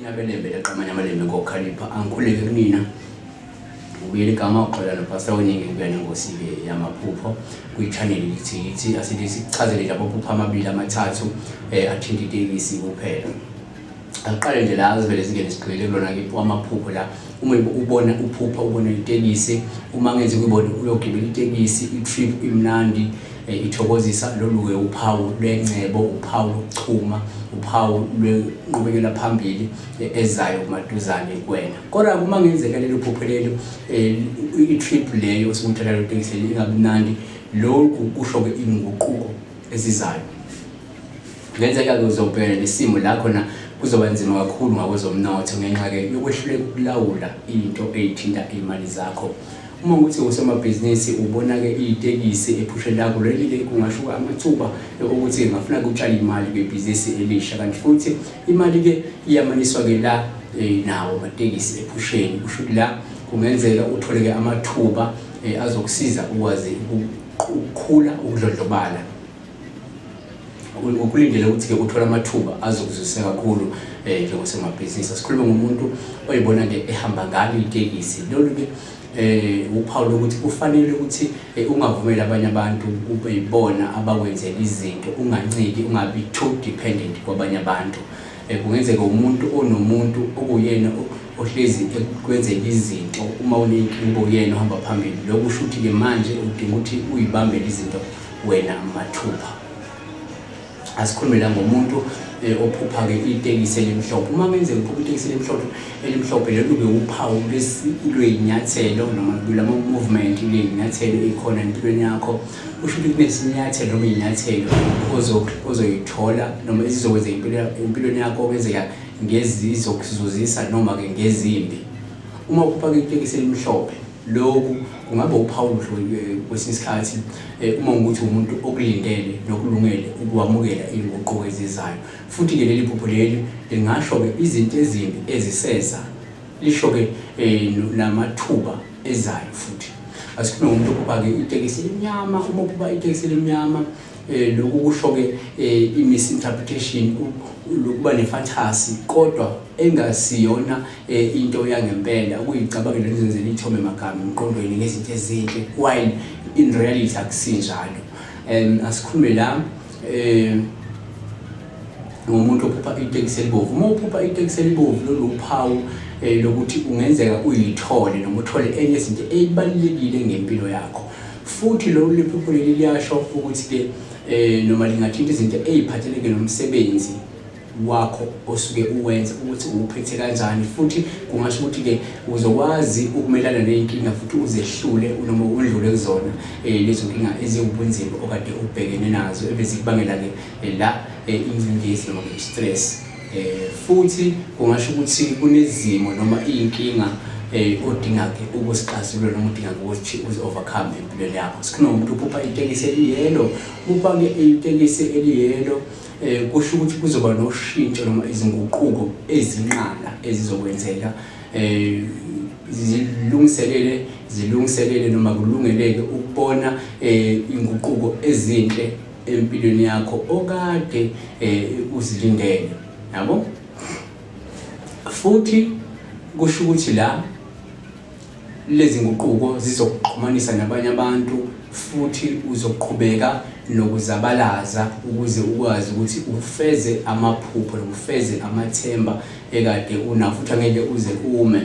inyabelembe leqamanye amalembe ngokhalipha angikhuleke kunina ubuyela igama uxola nophasa weningi kuya nengosi-ke yamaphupho kuyichaneli lithi yithi asithi sichazele nje amaphupho amabili amathathu um athinta itekisi kuphela Angiqale nje la azivele zingene sigqibele kulona ke amaphupho la uma ubona uphupha ubona itekisi uma ngenze kuyibona uyogibela itekisi i-trip imnandi eh, ithokozisa lolu-ke uphawu lwengcebo uphawu lokuchuma uphawu lwenqubekela phambili eh, ezayo kumaduzane kuwena kodwa uma ngenzeka lelo phupho lelo eh, i-trip leyo osukuthatha lo tekisi leli ingabi mnandi lokhu kusho-ke inguquko ezizayo Kungenzeka-ke uzobhekana nesimo la khona kuzoba nzima kakhulu ngakwezomnotho ngenxa-ke yokwehluleka ukulawula into eyithinta iy'mali zakho. Uma ukuthi usomabhizinisi ubona-ke itekisi ephushe lakho leli-ke kungashuka amathuba okuthi ngafuna kutshala imali kwibhizinisi elisha kanti futhi imali-ke iyamaniswa-ke la eh, nawo amatekisi ephusheni kusho ukuthi la kungenzeka uthole-ke amathuba eh, azokusiza ukwazi ukukhula ukudlodlobala kulindele ukuthi-ke kuthola amathuba azokuzwisisa kakhulu um eh, njengosemabhizinisi asikhulume ngomuntu oyibona-ke ehamba ngalo itekisi lolu-ke eh uphawu lokuthi kufanele ukuthi eh, ungavumeli abanye abantu kube yibona abakwenzela izinto unganciki ungabi too dependent kwabanye abantu eh, kungenzeka umuntu onomuntu okuyena ohlezi ekwenzela izinto uma unenkinga uyena uhamba phambili lokusho ukuthi-ke manje udinga ukuthi uyibambele izinto Wena mathupha asikhulumela ngomuntu eh, ophupha-ke itekisi elimhlophe uma kwenzeka uphupha itekisi elimhlophe elimhlophe lelo kube uphawu lwey'nyathelo noma lama-movement ley'nyathelo ey'khona empilweni yakho kusho ukuthi kunesinyathelo noma iy'nyathelo ozoyithola noma ezizokwenza empilweni yakho okwenzeka ngezizokuzuzisa noma-ke ngezimbi uma uphupha-ke itekisi elimhlophe Lokhu kungaba uphawu oluhle kwesinye isikhathi uma ukuthi umuntu okulindele nokulungele ukuwamukela izinguquko ezizayo. Futhi-ke leli phupho leli lingasho-ke izinto ezimbi eziseza, lisho-ke namathuba ezayo futhi. Asikhulume ngomuntu ophupha-ke itekisi elimnyama, uma uphupha itekisi elimnyama eh lokhu kusho-ke eh i-misinterpretation lokuba nefantasy kodwa engasiyona e, into yangempela ukuyicabangela nizenzela ithome magama emqondweni ngezinto ezinhle while in reality akusinjalo um asikhulume la um ngomuntu ophupha itekisi elibovu uma uphupha itekisi elibovu lolu uphawu um eh, lokuthi kungenzeka uyithole noma uthole enye izinto eyibalulekile ngempilo yakho futhi lolu liphupho leli liyasho ukuthi-ke um noma lingathinta izinto eyiphatheleke nomsebenzi wakho osuke uwenza ukuthi uwuphethe kanjani futhi kungasho ukuthi-ke uzokwazi ukumelana ney'nkinga futhi uzehlule noma undlule kuzona um lezo nkinga eziwubunzima okade ubhekene nazo ebezikubangela-ke eh, la eh, ingcindezi noma i-stress um futhi kungasho ukuthi kunezimo noma iy'nkinga um odinga-ke ukusixazulula noma udinga-ke ukuthi uzi-overcome empilweni yakho sikunomuntu uphupha itekisi eliyelo upha-ke itekisi eliyelo Eh, kusho ukuthi kuzoba noshintsho noma izinguquko ezinqala ezizokwenzeka um zilungiselele zilungiselele noma kulungeleke ukubona um inguquko ezinhle empilweni yakho okade um uzilindele yabo futhi kusho ukuthi la Lezi nguquko zizokuxhumanisa nabanye abantu futhi uzoqhubeka nokuzabalaza ukuze ukwazi ukuthi ufeze amaphupho nokufeze amathemba ekade unawo futhi angeke uze ume.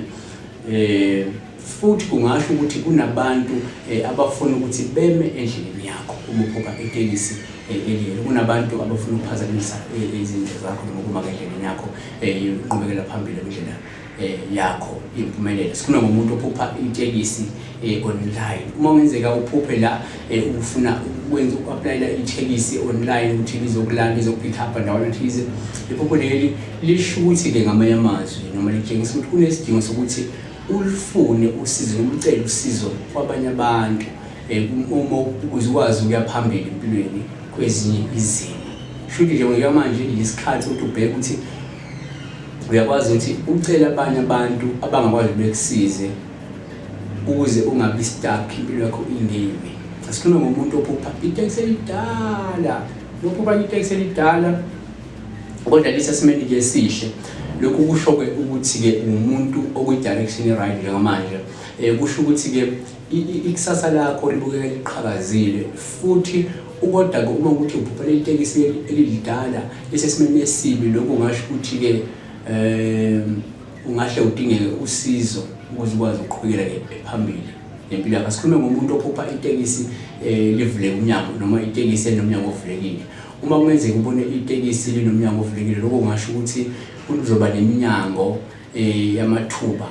Eh futhi kungasho ukuthi kunabantu eh, abafuna ukuthi beme endleleni yakho uma uphupha itekisi eh, eliyelo kunabantu abafuna ukuphazamisa eh, izinto zakho noma ukuma endleleni yakho inqubekela phambili endlela eh, yakho impumelelo sikhuluma ngomuntu ophupha itekisi eh, online uma wenzeka uphuphe la eh, ufuna ukwenza uku-aplayela itekisi online ukuthi lizokulanda izopick up ndawana thize iphupho leli lisho ukuthi-ke ngamanye amazwi noma litshengisa ukuthi kunesidingo sokuthi ulufune usizo noma ucele usizo kwabanye abantu um uma ukuze ukwazi ukuya phambili empilweni kwezinye izimo shuthi nje ngokuya manje yisikhathi ukuthi ubheke ukuthi uyakwazi ukuthi ucele abanye abantu abangakwazi bekusize ukuze ungabi stuck impilo yakho ingemi asikhuluma ngomuntu ophupha iteksi elidala lophupha iteksi elidala kodwa lisesimeni ke sihle lokhu kusho-ke ukuthi-ke umuntu okwi-direction right njengamanje um kusho ukuthi-ke Ikusasa lakho libukeka liqhakazile futhi ukodwa-ke uma ukuthi ubhubha leli tekisi elilidala lisesimeni esibi, lokhu kungasho ukuthi-ke um ungahle udingeke usizo ukuze ukwazi ukuqhubekela phambili nempilo yakho. Asikhulume ngomuntu ophupha itekisi um livuleke umnyango noma itekisi elinomnyango ovulekile. Uma kungenzeka ubone itekisi linomnyango ovulekile, lokho kungasho ukuthi kuzoba neminyango um yamathuba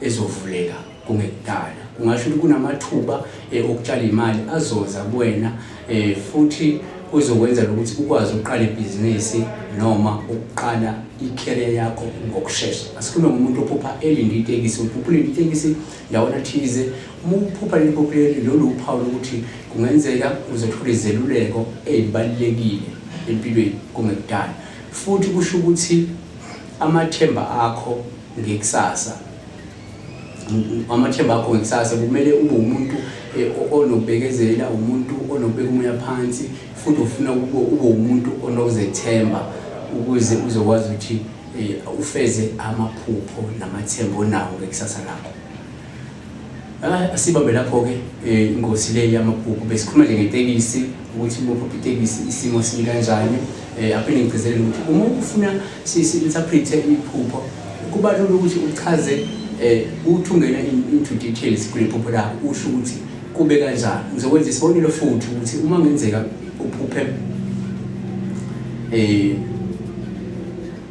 ezovuleka kungekudala kungasho ukuthi kunamathuba eh, okutshala imali azoza kuwena eh, futhi kuzokwenza ukuthi ukwazi ukuqala ibhizinisi noma ukuqala i-career yakho ngokushesha asikhulume ngomuntu ophupha elinde itekisi uphupha ulinde itekisi ndawona thize uma uphupha leli phupha leli lolu uphawu lokuthi kungenzeka uzothola izeluleko ezibalulekile empilweni kungekudala futhi kusho ukuthi amathemba akho ngekusasa amathemba akho ngekusasa kumele ube umuntu eh, onobekezela umuntu onobeka umoya phansi futhi ufuna ube umuntu onokuzethemba ukuze uzokwazi ukuthi eh, ufeze amaphupho namathemba onawo ngekusasa lakho Ah, sibambe lapho-ke um ingosi le yamabhuku besikhuluma nje ngetekisi ukuthi bopha itekisi isimo simi kanjani um aphinde ngigcizelele ukuthi uma ufuna si-interprete iphupho kuba lula ukuthi uchaze um uthi ungena into details kule phupho lakho usho ukuthi kube kanjani ngizokwenza isibonelo futhi ukuthi uma ngenzeka uphuphe um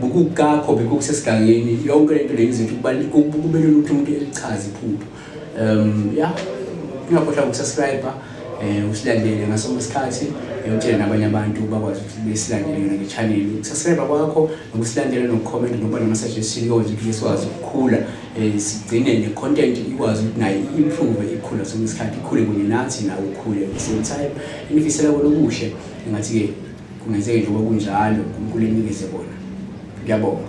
Bukukakho bikho kusesigangeni yonke lento lenza ukuthi kubaluleke kubelula ukuthi umuntu elichaze iphupho. Um yeah. Ungakhohlwa ukusubscribe eh usilandele ngaso isikhathi yokutshela nabanye abantu bakwazi ukuthi besilandele yona le channel ukusubscribe kwakho nokusilandela nokucomment nokuba nama suggestion yonke ukuthi sikwazi ukukhula eh sigcine ne content ikwazi ukuthi nayo improve ikhula sonke isikhathi ikhule kunye nathi nawe ukhule at the same time ngifisela kona okuhle ngathi ke Kungenzeki nje ukuba kunjalo, uNkulunkulu enikeze bona. Ngiyabonga.